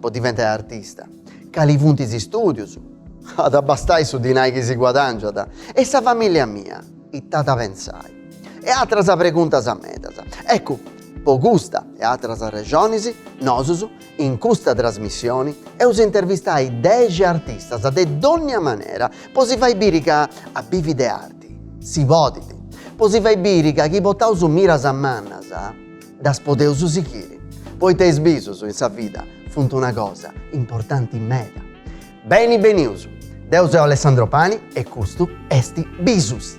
po diventai artista. Cali funt is istùdius? At a bastai su dinai chi si guadàngiat? E sa famìllia mia ita at a pentzai? E atras preguntas medas. Ecu, po custa e atras arrexonis, nosus, in custa trasmissioni, eus intervistai dexi artistas de dònnia manera po si fai biri ca a bivi de arti si podit, po si fai biri ca chi portaus miras mannas, Ddas podeus sighiri, poita is bisus in sa vida funt una cosa importanti meda. Beni benius! Deu seu Alessandro Pani e custu est Bisus!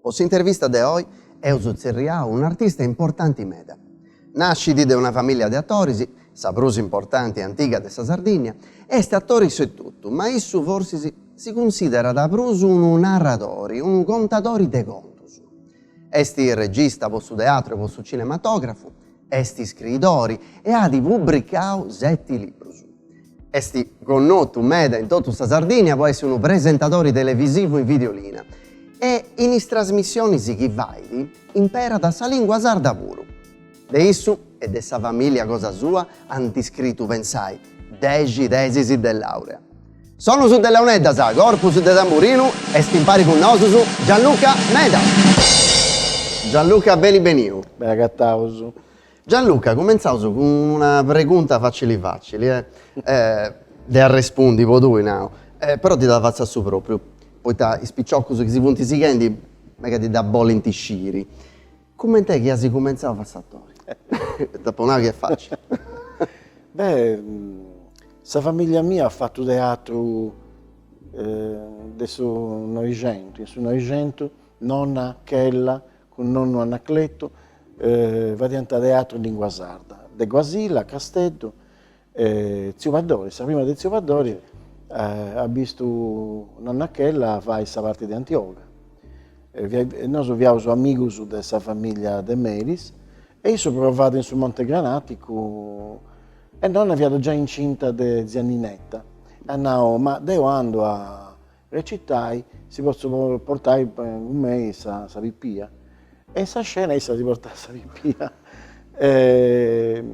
Po s'intervista de oi eus tzerriau un'artista importanti meda. Nascit de una famìllia de atoris, sa prus importanti e antiga de sa Sardìnnia, est atori issu etotu, ma issu forsis si cunsìderat prus unu narradori, unu contadori de contus. Est regista po su teatru e po su cinematògrafu. Est scriidori e at pubricau seti librus. Est connotu meda in totu sa Sardìnnia po essi unu presentadori televisivu in Videolina e in is trasmissionis chi fait imperat sa lìngua sarda puru. De issu e de sa famìllia cosa sua ant iscritu pensai dexi tesis de làurea. Sonus de launeddas, corpus de tamburinu, est impari cun nosus Gianluca Medas. Gianluca beni beniu. Beni agataus. Gianluca cumentzaus cun una pregunta facili facili de arrespundi po tui nau, però ti dda fatzu a su propriu, poita is piciocus chi si funt sighendi megant, dda bolint sciri. Cument'est chi as cumentzau a fai s'atori? T'apo nau chi est facili. Beh, sa famiglia mia at fatu teatru de su Noixentu, in su Noixentu nonna Chella cun nonnu Anacletu fadiant teatru in lingua sarda, de Guasila, Casteddu, Tziu Paddori, sa prima de tziu Paddori at bistu nonna Chella fai sa parti de Antioga. Nosu fiaus amigus de sa familia de Melis e issu provàt in su Monte Granàticu e nonna fiat giai incinta de tzia Ninetta e at nau, ma deu andu a Recitai, si potzu portai cun mei sa pipia? E in sa scena issa si portat sa pipia e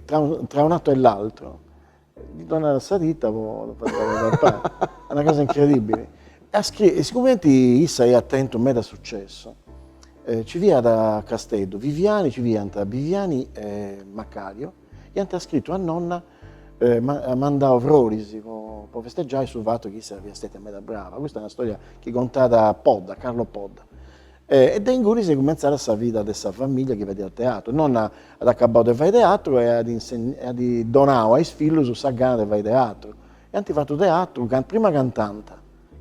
tra un atto e l'altro ddi donàt sa tita po fai pappai, est una cosa incredibili. E sigumenti issa iat tentu meda sucessu, ci fiat a Casteddu Viviani, ci fiant Viviani e Macario, Iant scritu a nonna e at mandau froris po festeggiai su fatu chi issa fiat stètia meda brava. Custa est una storia chi contat Podda, Carlo Podda. E de ingunis est cumenzada sa vida de sa familia chi fadiat teatru. Nonna at acabau de fai teatru e at e at donau a is fillus sa gana de fai teatru. E ant fatu teatru, prima cantànt,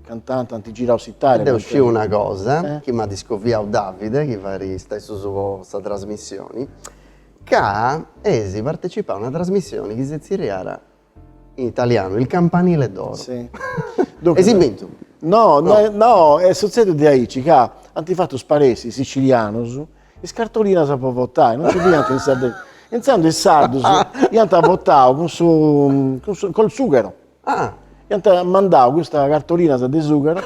cantànt, ant girau s'Italia. Deu sciu una cosa chi m'at iscoviau Davide chi fait su stessu po sa trasmissioni, Ca eis partecipau a una trasmissioni chi se zerriat in italianu Il campanile d'oro. Si. Eis bintu? No, no, no, est sutzediu diaici ca ant fatu sparessi is sicilianus is cartolinas po votai, non nci fiant in Sardegna. E intzandus is sardus iant votau cun su, cun su, col sughero. Ah. Iant mandau custas cartolinas de sughero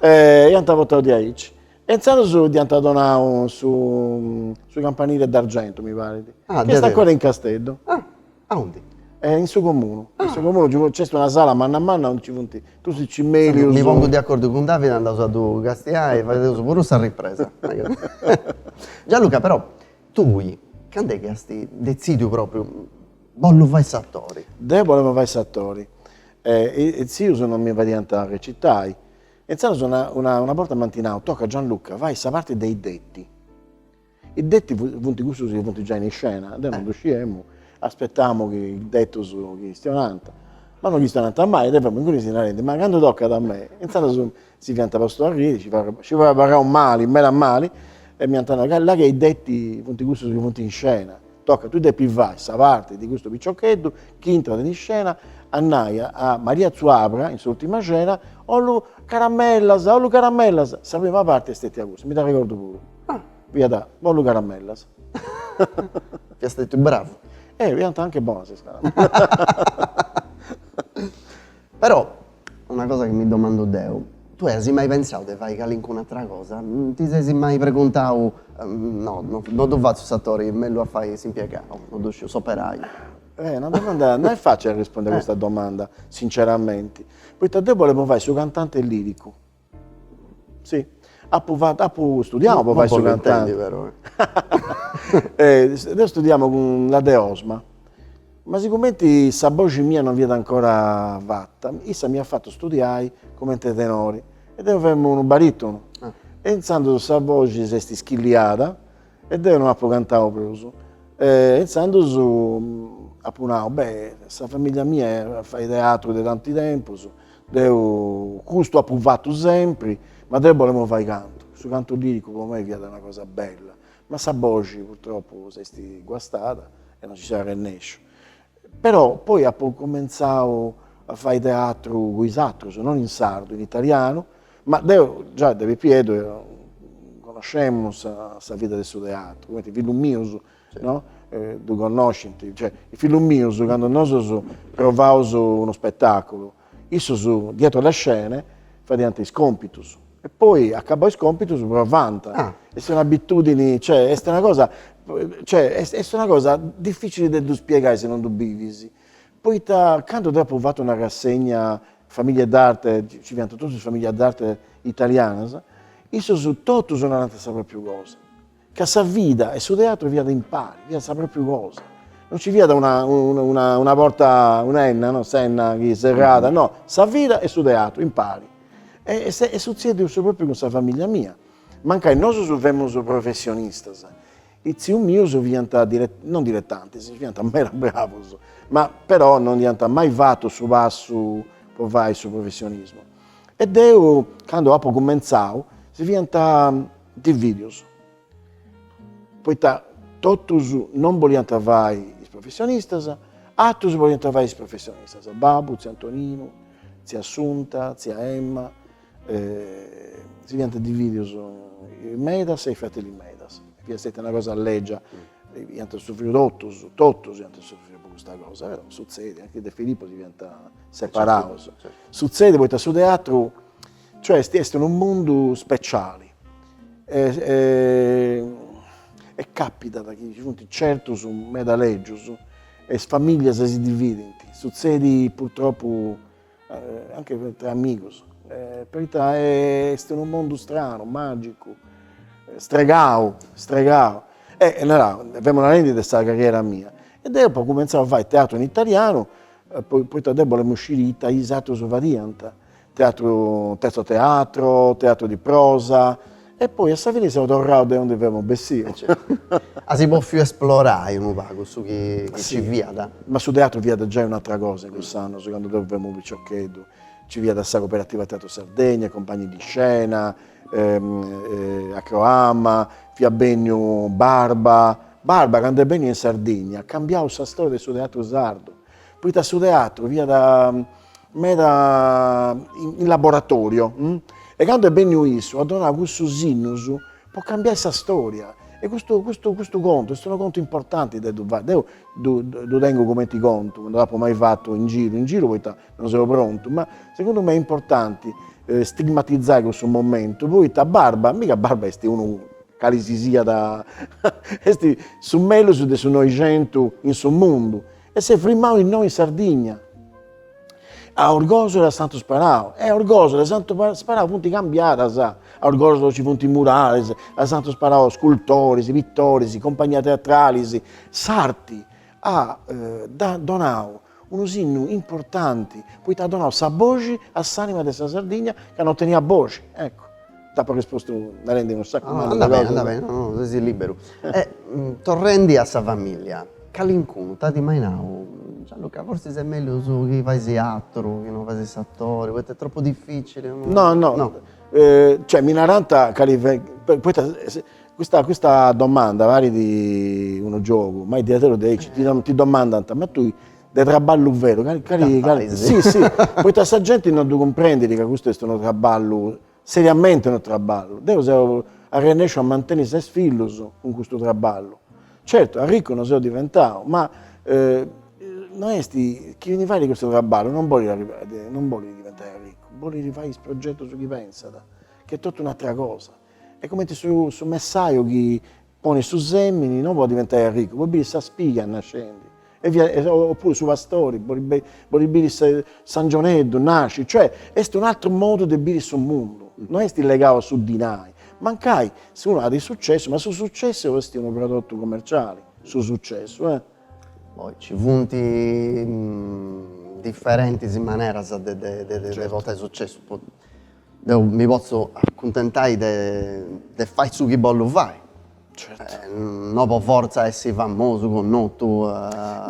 e iant votau diaici. E intzandus dd'iant donau su su campanili d'argentu, mi parit. Ah, Chi est ancora in Casteddu. Ah, aundi? E in su Comunu. Ah. In su Comunu nci nc'est una sala manna manna aundi nci funt totus is cimelius. Mi pongu de acordu cun Davide, andaus a ddu castiai e fadeus puru sa ripresa. Gianluca, però, tui candu est chi ast detzidiu propriu, bollu fai s'atori? Deu bolemu fai s'atori. E is tzius non mi fadiant recitai. Intzandus una una borta m'ant nau, Toca Gianluca, fai sa parti de I detti. I detti funt cussus chi funt giai in iscena, deu non ddu sciemu, aspetamu chi is detus chistionant, ma non chistionant mai, deu femu ingunis narendis, ma candu tocat a mei. Intzandus si fiant postu a riri, si fia abarrau mali, meda mali, e m'iant nau, ca là chi I detti funt cussus chi funt in iscena. Toca tui depis fai sa parti de custu piciocheddu chi intrat in iscena a nai a Maria Zuabra in s'ultima scena, Ollu caramellas, ollu caramellas, sa prima parti est stètia custa, mi dd'arregordu puru, fiat ollu caramellas. Fiat stètiu bravu. Eh, fiant anche bonas is caramellas. Però, una cosa chi mi domandu deu, tui as mai pensau de fai calincun'atra cosa? Ti ses mai preguntau, no, no ddu fatzu s'atori, mellus a fai s'impiegau, no ddu sciu, s'operaiu? Eh, una domanda, no est facili rispondere a questa domanda, sinceramenti, poita deu bolemu fai su cantanti liricu, Si, apu fatu, studiamu po fai su cantanti. Deu studiamu cun la de Osma, ma sigumenti sa boxi mia non fiat ancora fata, issa m'iat fatu studiai cumenti tenori e deu femu unu baritunu e intzandus sa boxi s'est ischilliada E deo no apu cantau prus. E intzandus apu nau, beh, sa famìllia mia fait teatru de tanti tempus, deu custu apu fatu sempri, ma deu bolemu fai cantu. Su cantu liricu po mei fiat una cosa bella, ma sa boxi purtroppu s'est guastada e no nci seu arrennesciu. Però poi apo cumentzau a fai teatru cun is atrus, non in sardu, in italianu, ma deu già de pipieddu connoscemu sa sa vida de su teatru, comenti is fillus mius, no, ddu connoscint, cioè is fillus mius candu nosus provaus unu spetaculu Issos dietro le scene fadiant is compitus e poi acabau is compitus provànt. Est una abitudini, cioè est una cosa, cioè est una cosa difficili de ddu spiegai si non ddu bivis, poita candu deu apu fatu una rassegna Famiglie d'arte, ci fiant totus is famiglias d'arte italianas, issos totus narant sa propriu cosa Ca sa vida e su teatru fiat impari, fiat sa pròpriu cosa, non nci fiat una una una porta, una 'enna no, s'enna chi serrat, no, sa vida e su teatru impari. E est sutzèdiu su pròpriu cun sa famìllia mia, mancai nosus femus professionistas, is tzius mius fiant non diletantis, fiant meda bravus, ma però non iant mai fatu su passu po fai su professionismu e deu candu apu cumentzau si fiant dividius. Poita totus non boliant fai is professionistas, atrus boliant fai is professionistas, babu, tziu Antoninu, tzia Assunta, tzia Emma, si fiant dividius is Medas e is Fratelli Medas, fiat stetia una cosa legia, iant sufriu totus, totus iant sufriu po custa cosa, però sutzedit, anche De Filippo si fiant separaus, sutzedit poita su teatru Cioè est est unu mundu speciali e e capitat chi ci funt certus meda legius e is familias si dividint, sutzedit purtropu anche tra amigus, poita est unu mundu stranu, magicu, stregau, stregau. E allora, femu narendi de sa carriera mia, e deu apu cumentzau a fai teatru in italianu, poita deu bolemu sciri ita is atrus fadiant, Teatru Terzo Teatro, Teatru di Prosa, e poi a sa fini seu torrau de undi femu bessiu. Ah sì, apu bofiu esplorai unu pagu su chi ci fiat. Ma su teatru fiat giai un'atra cosa in cussus annus, candu deu femu piciocheddu. Ci fiat sa Cooperativa Teatru Sardegna, Compagni di Scena, Akròama, fiat benniu Barba. Barba candu est benniu in Sardigna at cambiau sa storia de su teatru sardu. Poita su teatru fiat meda in laboratorio e candu est benniu issu at donau cussu sinnu po cambiai sa storia e custu custu custu contu est unu contu importanti de ddu fai. Deu ddu ddu tengu cumenti contu, non dd'apu mai fatu in giru in giru poita non seu prontu, ma segundu mei est importanti stigmatizai cussu momentu poita Barba, mi ca Barba est unu cali si siat, est su mellus de su Noixentu in su mundu e s'est frimau innoi in Sardigna, a Orgòsolo e a Santu Sparau, e Orgòsolo e Santu Sparau funt cambiadas, a Orgòsolo nci funt muralis, a Santu Sparau scultoris, pitoris, compagnias teatralis, s'arti at donau unu sinnu importanti poita at donau sa boxi a s'anima de sa Sardigna ca non teniat boxi, ecco. T'apo rispostu narendi unu saccu mannu de cosas. Andat beni, andat beni, sesi liberu. E torrendi a sa familia, calincunu t'at mai nau, Gianluca forsis est mellus chi faisi aturu, chi non fasis s'atori, poita est tropu difficili. No no, cioè mi narant cali, poita Custa custa domanda parit unu giogu, ma est diaderus de aici, ti ti domandant, ma tui de traballu veru cali cali cali, si si, poita sa genti non ddu cumprendit ca custu est unu traballu, seriamenti unu traballu, deu seu arrennesciu a manteni ses fillus cun custu traballu, certu arriccu non seu diventau, ma no est, chini fait custu traballu non bolit arrivai, non bolit diventai arriccu, bolit fai is progetus chi pensat, ch'est totu un'atera cosa, Est cumenti su su messaju chi ponet su semini no po diventai arricu, po biri sa spiga nascendi e via e o oppuru su pastori po ddi po ddi biri sa s'angioneddu nasci, cioè est un atteru modu de biri su mundu, no est legau a su dinai, mancai si unu at is successu, ma su successu est unu prodottu commerciali, su successu e. Poi ci funt differentis maneras de de de portai successu po Deu mi potzu acuntentai de fai su chi bollu fai. No po fortza essi famosu, connotu,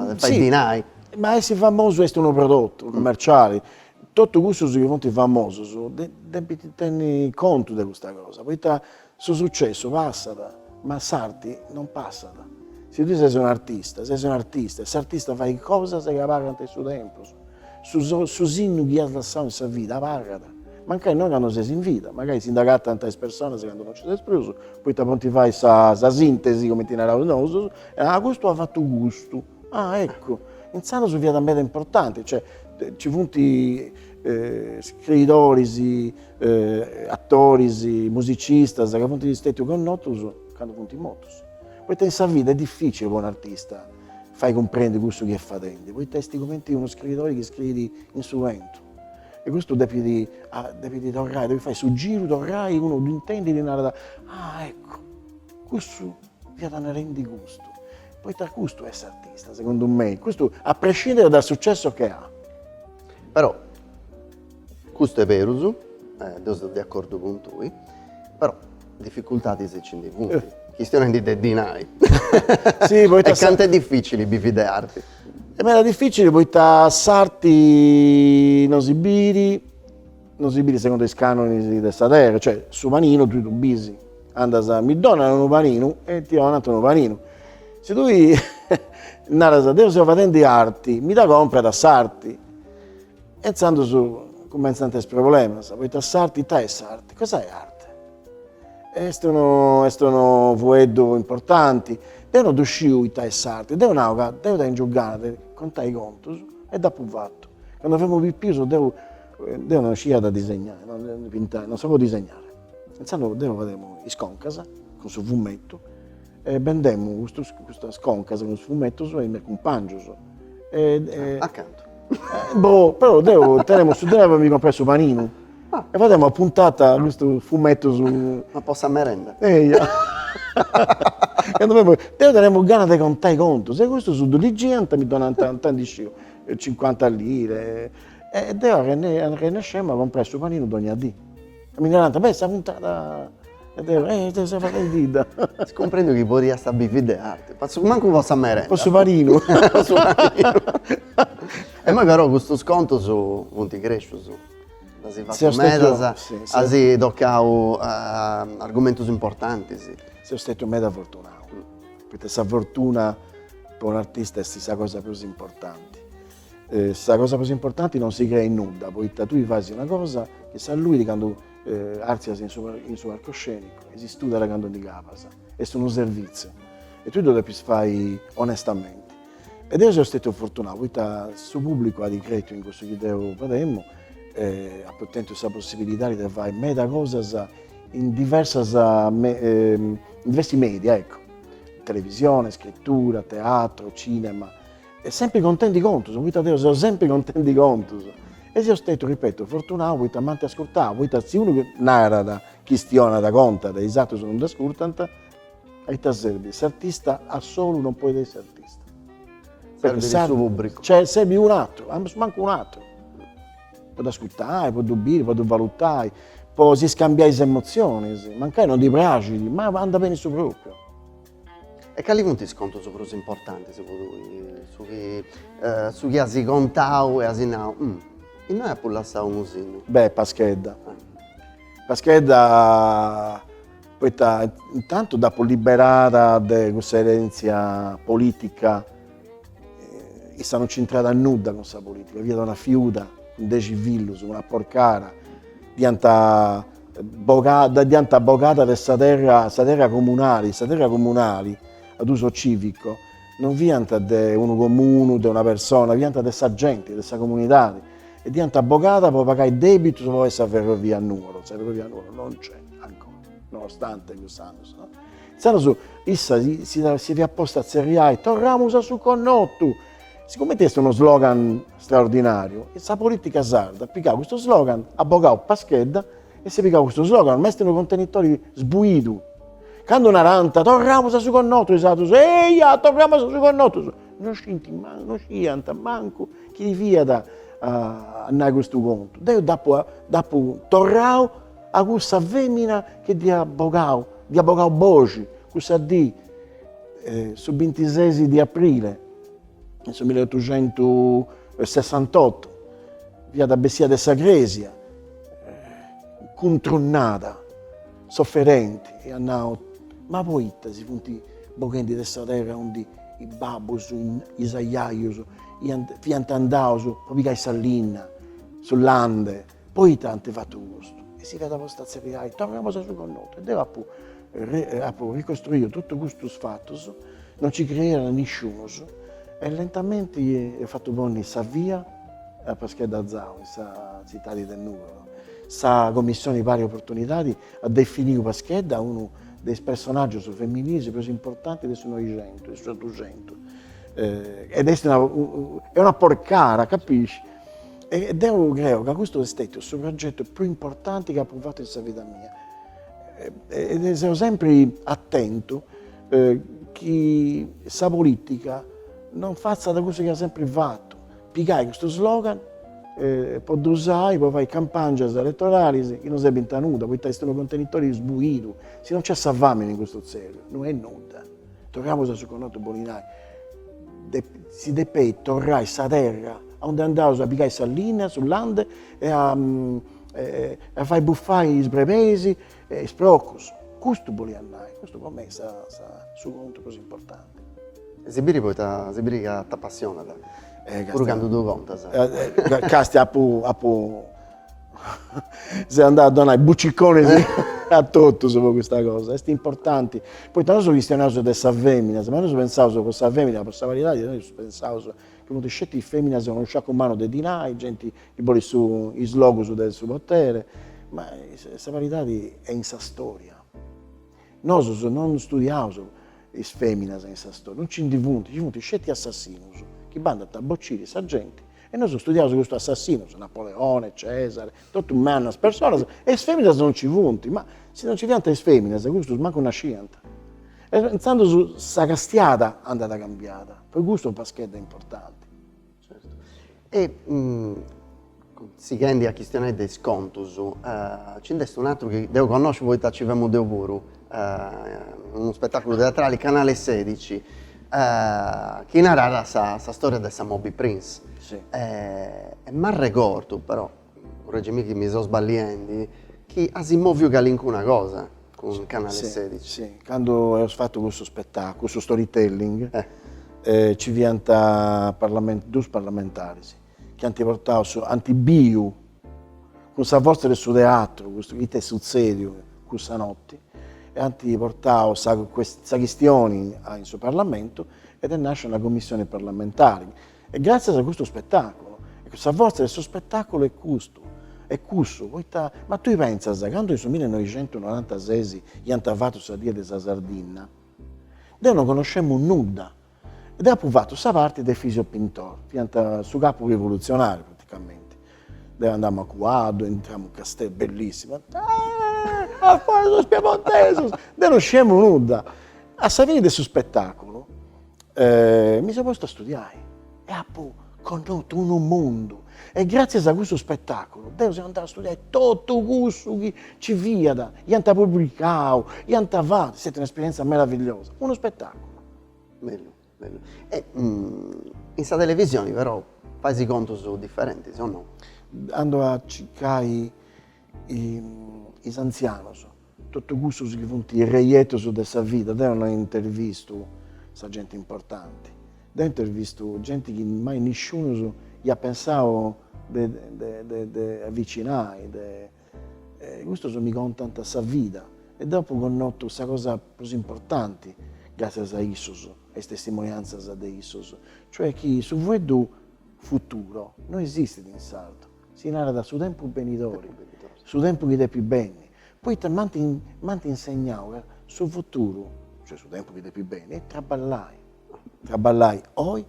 de fai dinai. Ma essi famosu est unu prodottu cummerciali, tottu cussus chi funti famosus depint tenni contu de custa cosa, poita Su sucessu passat, ma s'arti non passat. Si tui ses un'artista, ses un'artista e s'artista fait cosas chi pagant in su tempus. Su so, su sinnu chi as lassau in sa vida pagat, mancai non candu ses in vida, mancai si nd'acatant is personas candu non nci ses prus, poita podint fai sa sintesi, cumenti naraus nosu, custu at fatu custu. Ah, eccu, intzandus fiat meda importanti, cioè nci funt scriidoris, atoris, musicistas ca funt stètius connotus candu funt mortus, poita in sa vida est dificili po un'artista fai cumprendi cussu chi est fadendi, poita est cumenti unu scriidori chi scriit in su bentu e custu depit depit torrai, depit fai su giru, torrai, unu ddu intendit e narat, ah eccu, cussu fiat narendi custu Poita custu est s'artista, segundu mei, custu a prescindere dal successo che ha. Però, custu est berus, deu seu de acordu cun tui, però dificultadis nci ndi funt, chistionendi de dinai. Sì, poita sa. E cantu est dificili bivi de arti. Est meda dificili poita s'arti non si biri. No si bit segundu is canonis de sa terra, cioè su paninu tui ddu bis, andas, mi donat unu paninu e ti donant unu paninu. Si tui naras, deu seu fadendi arti, mi dda comprat s'arti. E intzandus cumentzant is problemas, poita s'arti, ita est s'arti, cosa è arte? Est unu, est unu fueddu importanti, deu no ddu sciu ita est s'arti, deu nau ca deu tengiu gana de contai contus e dd'apu fatu. Candu femu pipius deu Deu non sciat a disegnai, non pintai, non sapevo disegnare. Intzandus deu fademu is concas cun su fumetu e bendemu custus custas concas cun is fumetus a is meus cumpangius. A cantu? Boh, però deu tenemu su dinai po mi comporai su paninu e fademu a puntata custus fumetus. Ma po sa merenda? Eia. Deu tenemu gana de contai contus e custus ddu ligiant e mi donant, ita ndi sciu, cincuanta lire E deu arrennescemu a comporai su paninu dogna dì. Mi narant, beh, sa puntada, e deu, eh, deu seu faendidda. As cumprendiu chi podiast a bivi de arte, mancu po sa merenda. Po su paninu. Po su paninu. E immoi però custus contus funt crescius, nd'asi fatu medas, asi tocau argumentus importantis. Seu stetiu meda fortunau, poita sa fortuna po un'artista est sa cosa prus importanti. Sa cosa prus importanti non si crei nudda, poita tui fais una cosa chi s'alluit candu artzias in su in su palcoscenicu e si studat candu ndi cabas, est unu servitziu e tui ddu depis fai onestamenti. E deu seu stetiu fortunau, poita su pubblicu at cretiu in cussu chi deu fademu e apu tentiu sa possibilidadi de fai meda cosas in diversas in diversi media ecco, televisione, scrittura, teatro, cinema E sempri contendi contus, poita deu seu sempri contendi contus. E seu stetiu, ripetu, fortunau poita m'ant ascurtau, poita si unu narat, chistionat, contat e is atrus non dd'ascurtant, a ita serbit? S'artista a solu non podit essi artista. Serbit su pùbricu. Cioè serbit un'atru, ambus mancu un'atru, po dd'ascurtai, po ddu biri, po ddu valutai, po si scambiai is emotzionis, mancai non ddi praxit, ma andat beni su propriu. E cali funt is contus prus importantis po tui? Su chi as contau e as nau, innoi apu lassau unu sinnu. Beh, Paschedda. Paschedda poita intantu dd'apu liberada de cussa erentzia politica, issa non c'intrat a nudda cun sa politica, fiat una fiuda cun dexi fillus, una porcara, dd'iant Bo, dd'iant bogada de sa terra, sa terra comunali, sa terra comunali, ad uso cìvico, non fiant de unu comunu, de una persona, fiant de sa genti, de sa comunidadi e dd'iant bogada po pagai dèbitus po fai sa ferrovia a Nuoro, sa ferrovia a Nuoro non nc'est ancora, nonostante cust'annu, no. Insaras issa si fiat posta a tzerriai, torramus a su connotu! Sigumenti est unu slogan straordinàriu, sa polìtica sarda at pigau custu slogan, at bogau Paschedda e s'at pigau custu slogan, ma est unu contenitori sbuidu. Candu narant torramus a su connotu, is atrus, eia, torramus a su connotu, no scint mancu, no sciiant mancu chi fiat a nai custu contu. Deu dd'apu dd'apu torrau a cussa femina chi dd'iat bogau, dd'iat bogau boxi cussa dì su bintises de aprile in su milleotuxentusessantotto fiat bessia de sa Crèsia cuntrunnada, soferenti e at nau, ma poita si funt boghendi de sa terra aundi is babbus, is ajajus fiant andaus po pigai sa linna, su lande Poita ant fatu custu? E si fiat posta a tzerriai, torramus a su connotu. E deu apu apu ricostruiu totu custus fatus, non ci creiat nisciunus, e lentamenti eus fatu ponni sa via a Paschedda Zau, in sa tzitadi de Nùgoro. Sa Commissioni Pari Oportunidadi at definiu Paschedda unu de is personaggius femininis prus importanti de su Noixentu, de su s'Otuxentu, ed est una una porcara, capisci? E deu creu ca custu est stetiu su progetu prus importanti chi apu fatu in sa vida mia e seu sempri atentu chi sa politica non fatzat cussu chi at sempri fatu, pigai custu slogan po ddu usai po fai campangias elettoralis chi non serbint a nudda, poita est unu contenitori sbuidu, si non nc'est sa famini in custu tzerru no est nudda. Torramus a su connotu bolit nai. Si depeit torrai sa terra aunde andaus a pigai sa linna, su lande e a fai bufai is brebeis e is procus. Custu boliat nai, custu po mei est su contu prus importanti. E si biri poita, si biri ca t'apassionat, puru candu ddu contas. Castia apu Seu andau a donai buciconis a totus po custa cosa. Est importanti, poita nosu chistionaus de sa femina, ma nosu pentzaus po sa femina, po sa paridadi, nosu pentzaus chi funt sceti is feminas cun unu sciacu mannu de dinai, genti chi bolit su is logus de su potere, ma sa paridadi est in sa storia. Nosus non studiaus is feminas in sa storia, non nci ndi funt, nci funt sceti assassinus chi bandant a bociri sa genti E nosu studiaus custu assassinus, Napoleone, Cesare, totu mannas personas, e is feminas non ci funt, ma si non ci fiant is feminas custus mancu nasciant. E intzandus sa castiada andat cambiada, po custu Paschedda est importanti. Certu. E sighendi a chistionai de is contus, nci nd'est un'aturu chi deu connosciu poita nci femu deu puru, unu spetàculu teatrali, Canale sedici, chi naràt sa sa storia de sa Moby Prince. Si. E m'arregordu però, correggimi chi mi seu sballiendi, chi as moviu calincuna cosa cun Canale sedici. Si, si, candu eus fatu cussu spetà, cussu storytelling, nci fiant parlamen dus parlamentaris, chi ant portau su ant biu cun sa fortza de su teatru custu chi ita est sutzediu cussa notti e ant portau sa sa chistioni a in su parlamentu ed est nascia una commissioni parlamentari e gratzias a custu spettaculu e sa fortza de su spettaculu est custu est cussu poita ma tui pentzas candu in su millinoixentunorantases iant fatu sa die de sa Sardigna deu non connoscemu nudda Ed apu fatu sa parti de Efisio Pintor, fiat su capu rivolutzionariu praticamenti. Deu andamu a cuaddu, intramu in Casteddu, bellissimu, eeh a fora sos piemontesos, deu non sciemu nudda. A sa fini de su spettaculu mi seu postu a studiai e apu connotu unu mundu e gratzias a cussu spettaculu deu seu andau a studiai totu cussu chi ci fiat, iant publicau, iant fatu, est stata un'esperienza meravigliosa, unu spettaculu Bellu bellu e in sa televisioni però fais contus differentis o no? Andu a circai is anzianos, totu cussus chi funt is reietus de sa vida, deu no intervistu sa genti importanti, deu intervistu genti chi mai nisciunus iat pensau de avicinai E custos mi contant sa vida e deu apu connotu sa cosa prus importanti gràtzias a issos e is testimoniantzas de issos, cioè chi su fueddu futuro no esistit in sardu, si narat su tempus benidori, su tempus chi depit benni, poita m'ant m'ant insegnau ca su futuru, cioè su tempus chi depit benni, est traballai, traballai oi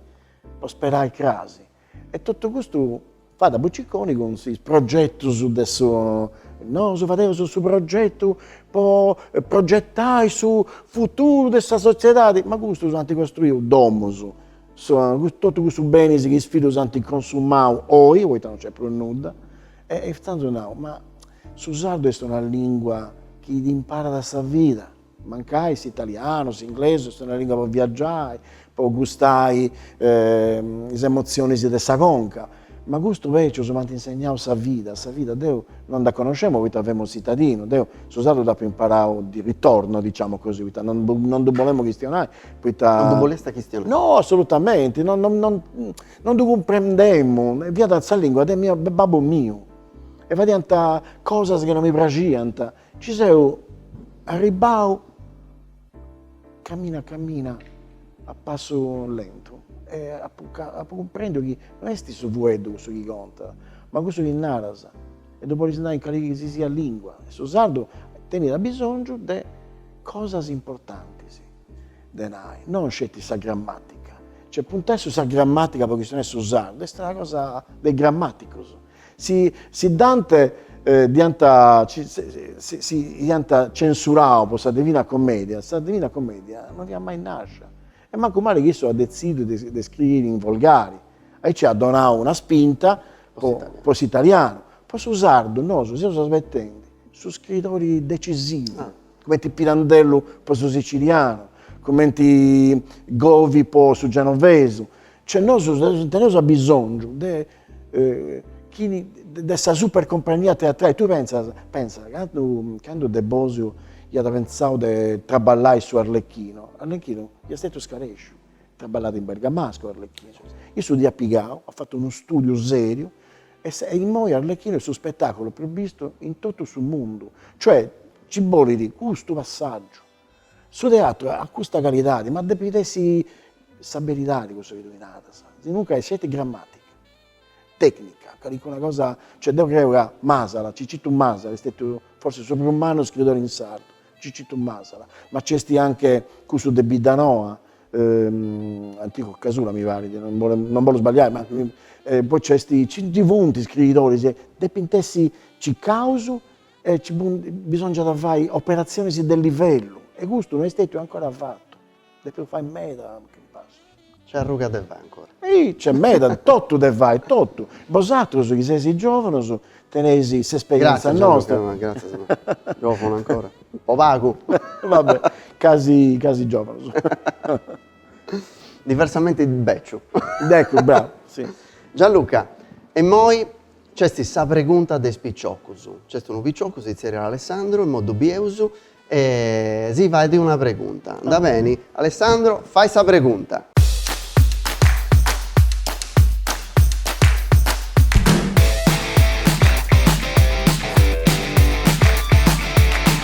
po sperai crasi, E totu custu fat a buciconis cun is progetus de su, nosu fadeus su progetu po progetai su futuru de sa sotziedadi, ma custus ant costruiu domus, totu cussus benis chi is fillus ant consumau oi, poita non nc'est prus nudda, e intzandus nau, ma su sardu est una lingua chi ti imparat sa vida, Mancai s'italianu, s'inglesu est una lìngua po viagiai, po gustai is emotzionis de sa conca, ma custus bècius m'ant insegnau sa vida, sa vida deu non dda conoscemu poita femu tzitadinu, deu su sardu dd'apu imparau di ritorno, diciamo così, poita non non ddu bolemu chistionai, poita. Non ddu bolestis chistionai. No, assolutamenti, non non non non ddu cumprendemu, fiat sa lìngua de, de babbu miu e fadiant cosas chi non mi praxiant Ci seu arribbau camina camina a passu lentu e apu apu cumprendiu chi no esti su fueddu cussu chi contat, ma cussu chi naras e ddu podis nai in calichi si siat lingua e su sardu tenit abisongiu de cosas importantis de nai, non sceti sa grammatica, cioè puntai a sa grammatica poita chi no est su sardu, est una cosa de grammaticusu. Si si Dante dd'iant dd'iant censurau po sa Divina Commedia, sa Divina Commedia no fiat mai nascia, e mancu mali chi issu at detzidu de de scriiri in volgari, aici at donau una spinta po po s'italianu, po su sardu nosu seus asbetendi su scridori decisivu, cumenti Pirandello po su sicilianu, cumenti Govi po su genovesu, cioè nosu teneus abisongiu de chi de sa super compagnia teatrali, tui pentzas, pentza, candu, candu De Bosio iat pentzau de traballai su Arlecchino, Arlecchino iat stetiu scaresciu, traballat in bergamascu Arlecchino, issu dd'iat pigau, at fatu unu studiu seriu e sa, e immoi Arlecchino est su spetaculu prus bistu in totu su mundu, cioè ci bolit custu passaggiu, Su teatru at custa calidadi, ma depit essi sa beridadi cussu chi tui naras, sinunca est sceti grammatica, tecnica, calicuna cosa, cioè deu creu ca Masala, Cicitu Masala est stetiu forsis su prus mannu scritori in sardu, Cicitu Masala, ma nci esti anche cussu de Biddanoa, Antioco Casula mi parit, non bollu non bollu sballiai, ma poi nc'esti, nci funt scritoris, depint essi cicaus e nci funt, bisòngiat fai operatzionis de livellu e custu no est stètiu ancora fatu, depeus fai meda. Nc'est arruga de fai ancora. Ehi, nc'est meda, totu de fai, totu. Bosatrus chi seis giòvunus teneis s'esperièntzia nostra. Gratzias Gianluca, gratzias. Giòvunu ancora, po pagu. Va bè, casi, casi giòvunus. Diversamente bèciu. Eccu, bravu, si. Gianluca, e imoi Nc'est sa pregunta de is piciocus. Nc'est unu piciocu, si tzerriat Alessandro, immoi ddu bieus, e si fait una pregunta. Andat beni? Alessandro, fai sa pregunta!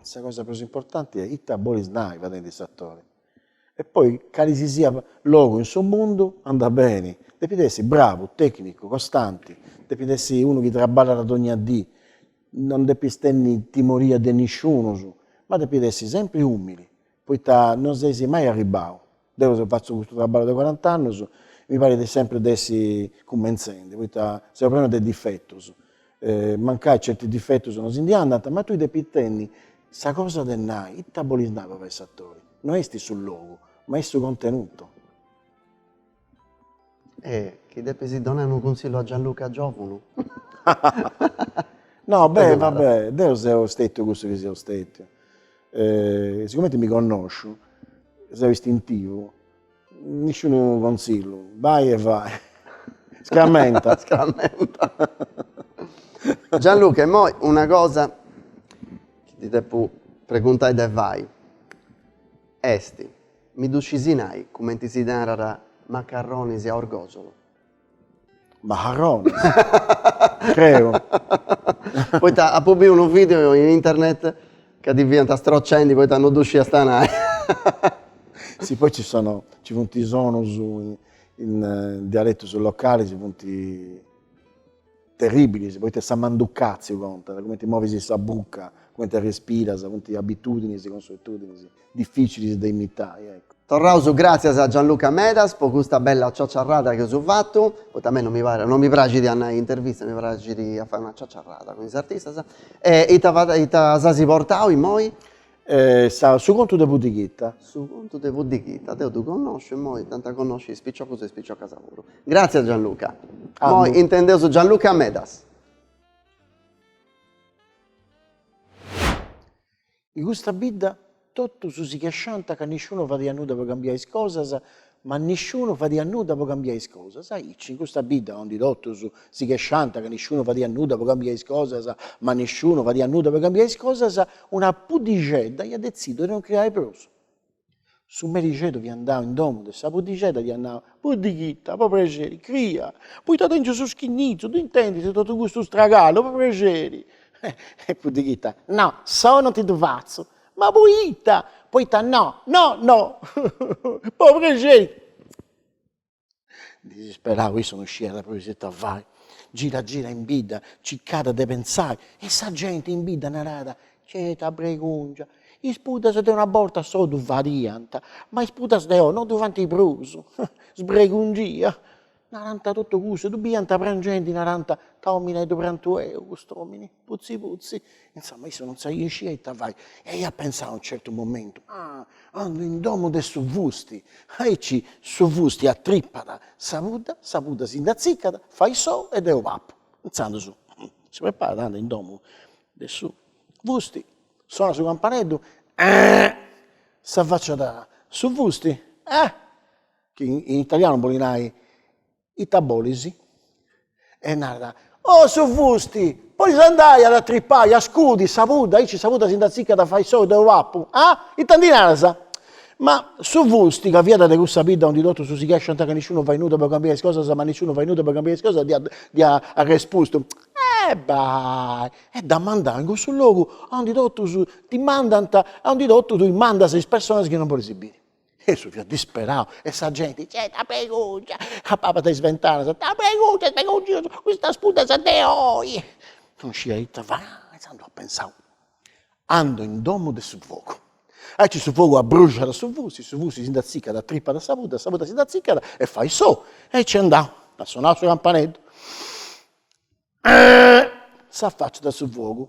sa cosa prus importanti est ita bolis nai fadendi s'atori. E poi cali si siat logu in su mundu andat beni, depit essi bravu, tecnicu, costanti, depit essi unu chi traballat dogna dì, non depis tenni timoria de nisciunus, ma depit essi sempri umili poita non ses mai arribbau, deu seu fatzu custu traballu de cuarant'annus, mi parit de sempri de essi cummentzendi, poita seu prenu de difetus, mancai certi difetus non si ndi andant, ma tui depis tenni sa cosa de nai, ita bolis nai po fai s'atori, no est su logu, ma est su contenutu. E chi depis donai unu cunsillu a Gianluca giovunu. No beh va beh, deu seu stetiu cussu chi seu stetiu, sigumenti mi connosciu, seu istintivu, nisciunu consillu, bai e fai, scramenta. Scramenta. Gianluca immoi una cosa chi ti depu preguntai de fai est Mi ddu scis nai, cumenti si narat, macarronis a Orgòsolu. Macarronis? Creu. Poita apu biu unu video in internet ca ti fiant strocendi poita no ddu sciast nai. Si poi ci sono, ci funt sonus in dialetus localis funt. Terribilis, poita sa manducatziu contat, cumenti movis sa buca, cumenti arrespiras, funt abitudinis, consuetudinis, dificilis de imitai, ecco. Torraus gràtzias a Gianluca Medas po custa bella ciaciarrada chi eus fatu, poita a mei non mi parit, non mi praxit a nai intervistas, mi praxit a fai una ciaciarrada cun is artistas, e ita ita s'as portau immoi? Eh, sa, su contu de Puddighita. Su contu de Puddighita, deu ddu connosciu e moi dd'ant a connosci is piciocus e is piciocas puru. Gràtzias Gianluca. Moi intendeus Gianluca Medas. In custa bidda totus si chesciànt ca nisciunu fadiat nudda po cambiai is cosas, Ma nisciunu fadiat nudda po cambiai is cosas, aici, in custa bidda ondi totus si chesciant ca nisciunu fadiat nudda po cambiai is cosas, ma nisciunu fadiat nudda po cambiai is cosas, una puddixedda iat detzidu de non criai prus. Su merixedu fiat andau in domu de sa puddixedda e dd'iat nau, Puddighita, po prexeri, cria, poita tengiu su schinnizu, ddu intendis, totu custu stragalu, po prexeri. E Puddighita, No, sou non ti ddu fatzu. Ma poita, poita no, no, no pro prexeri disisperau issu non sciiat prus ita fai, girat girat in bidda, circat de pensai e sa genti in bidda narat, ce', ta bregungia, is puddas de una borta s'ou ddu fadiant, ma is puddas de oi no ddu faint prus, sbregungia Narant totu custu, ddu biant prangendi, narant, Ta omineddu prantuleu cust'omini, putzi putzi. Insoma, issu non sciiat ita fai e iat pensau a unu certu momentu, Ah, andu in domu de su fusti, aici su fusti atripat sa pudda, sa pudda si nd'atzicat, fait s'ou e deu papu. Intzandus si preparat, andat in domu de su fusti, sonat su campaneddu, Eehh, s'afaciat su fusti, Eh! chi in italianu bolit nai ita bolis, e narat, oh su fusti, podis andai a atripai, a scudi sa pudda, aici sa pudda si nd'atziccat fait s'ou, deu papu, ah, ita ndi naras. Ma su fusti, ca fiat de cussa bidda aundi totus si chesciant ca nisciunu fait nudda po cambiai is cosas, ma nisciunu fait nudda po cambiai is cosas, dd'iat dd'iat arrespustu, eh bai, e dd'at mandau in cussu logu aundi totus ti mandant, aundi totus tui mandas is personas chi non bolis biri E issu fiat disperau e sa genti, ce', ta bregungia, de palas de is ventanas, ta bregungia custas puddas de oi. Non scidia ita fai, inzandus at pensau, andu in domu de su fogu. Aici su fogu abbruxat su fusti, su fusti si nd'atziccat atripat a sa pudda, sa pudda si nd'atziccat e fait s'ou. E nc'est andau, at sonau su campaneddu, s'afaciat su fogu.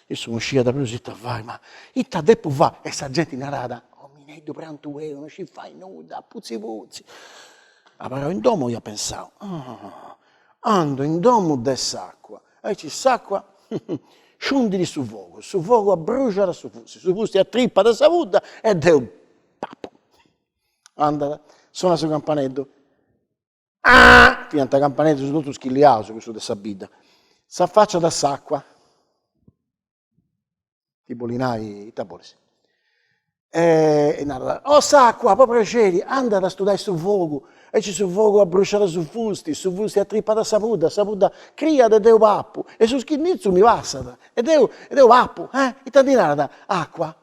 Issu non sciat prus ita fai, ma, ita depu fai? E sa genti narat, omineddu prantuleu, non scit fai nudda, putzi putzi. Abarrau in domu iat pensau, ando in domu de s'acua, aici s'acua sciundit su fogu, su fogu abbruxat su fusti, su fusti atripat sa pudda e deu pappu. Andat, sonat su campaneddu. Ah! Fiant campaneddus totu schilliau, cussu de sa bidda. S'affacciat s'acqua. Ti boli nai, ita bolis? E narat, O s'acqua, po prexeri, anda a studai su fogu. Aici su fogu abbrusciat su fusti, su fusti atrippat sa pudda, sa pudda criat e deu papu. E su schinnitzu mi passat e deu papu. Eh! Ita ndi naras? Acqua?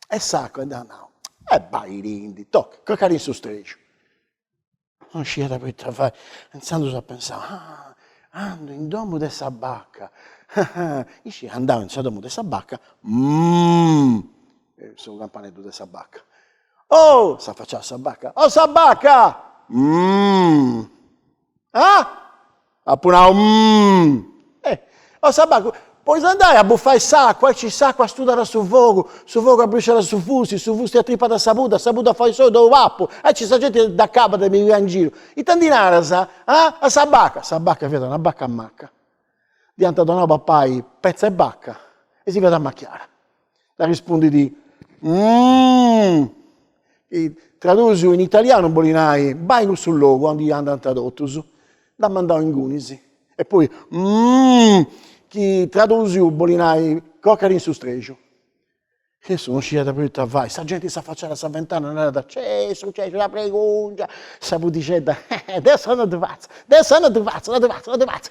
E s'acqua dd'at nau, E baitindi, toca, croca·ti in su strexiu. Non sciat prus ita fai, intzandus at pensau, ah, andu in domu de sa bacca, ah, iscì, andau in domu de sa bacca, mm, su campaneddu de sa bacca, oh, s'afaciat sa bacca, oh sa bacca, mm, ah Apu nau, Mmm! O sa baca, podis andai a bufai s'acua, aici s'acua studat su fogu, su fogu abruxat su fusti, su fusti atripat sa pudda, sa pudda fait s'ou deu papu, aici sa genti dd'acabat de mi pigai in giru, ita ndi naras, ah? A sa baca, sa baca fiat una baca maca, dd'iant donau papai petza 'e baca e si fiat amachiada Dd'arrespundit, Umm! Chi, tradusiu in italianu bolit nai, Bai in cussu logu aundi andant totus. Dd'at mandau ingunis. E poi, Umm! Chi, tradusiu, bolit nai, Croca·ti in su strexu. Cussu non sciat prus ita fai. Sa genti s'afaciat a sa ventana e narat, Cè, est sucessu una pregungia! Sa pudixedda, Deu sa non ddu fatzu, deu sa non ddu fatzu, non ddu fatzu, non ddu fatzu.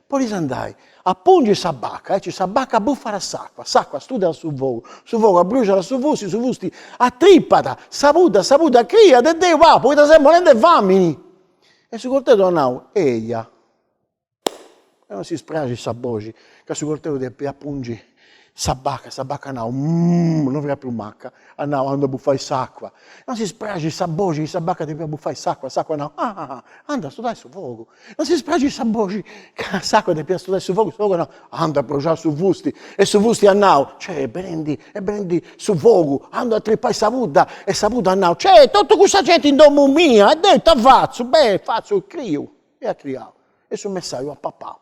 Podis andai a pungi sa baca, aici sa baca bufat s'acua, s'acua astudat su fogu, su fogu abbruxadat su fusti, su fusti atripat sa pudda, sa pudda criat e deu papu poita seu morrendi 'e famini. E su corteu at nau, eia, e non si spraxit sa boxi ca su corteu depiat pungi. Sa baca, sa baca at nau mmm, no fiat prus maca, at nau andu a bufai s'acua. Non si spraxit sa boxi chi sa baca depiat bufai s'acua, s'acua at nau ah ah ah, andu a studai su fogu. Non si spraxit sa boxi ca s'acua depiat studai su fogu, su fogu at nau andu a abruxai su fusti e su fusti at nau ceh est benendi, est benendi su fogu, andu a atripai sa pudda e sa pudda at nau ceh totu cussa genti in domu mia e deu ita fatzu, beh fatzu, criu. E at criau e su messaju at papau.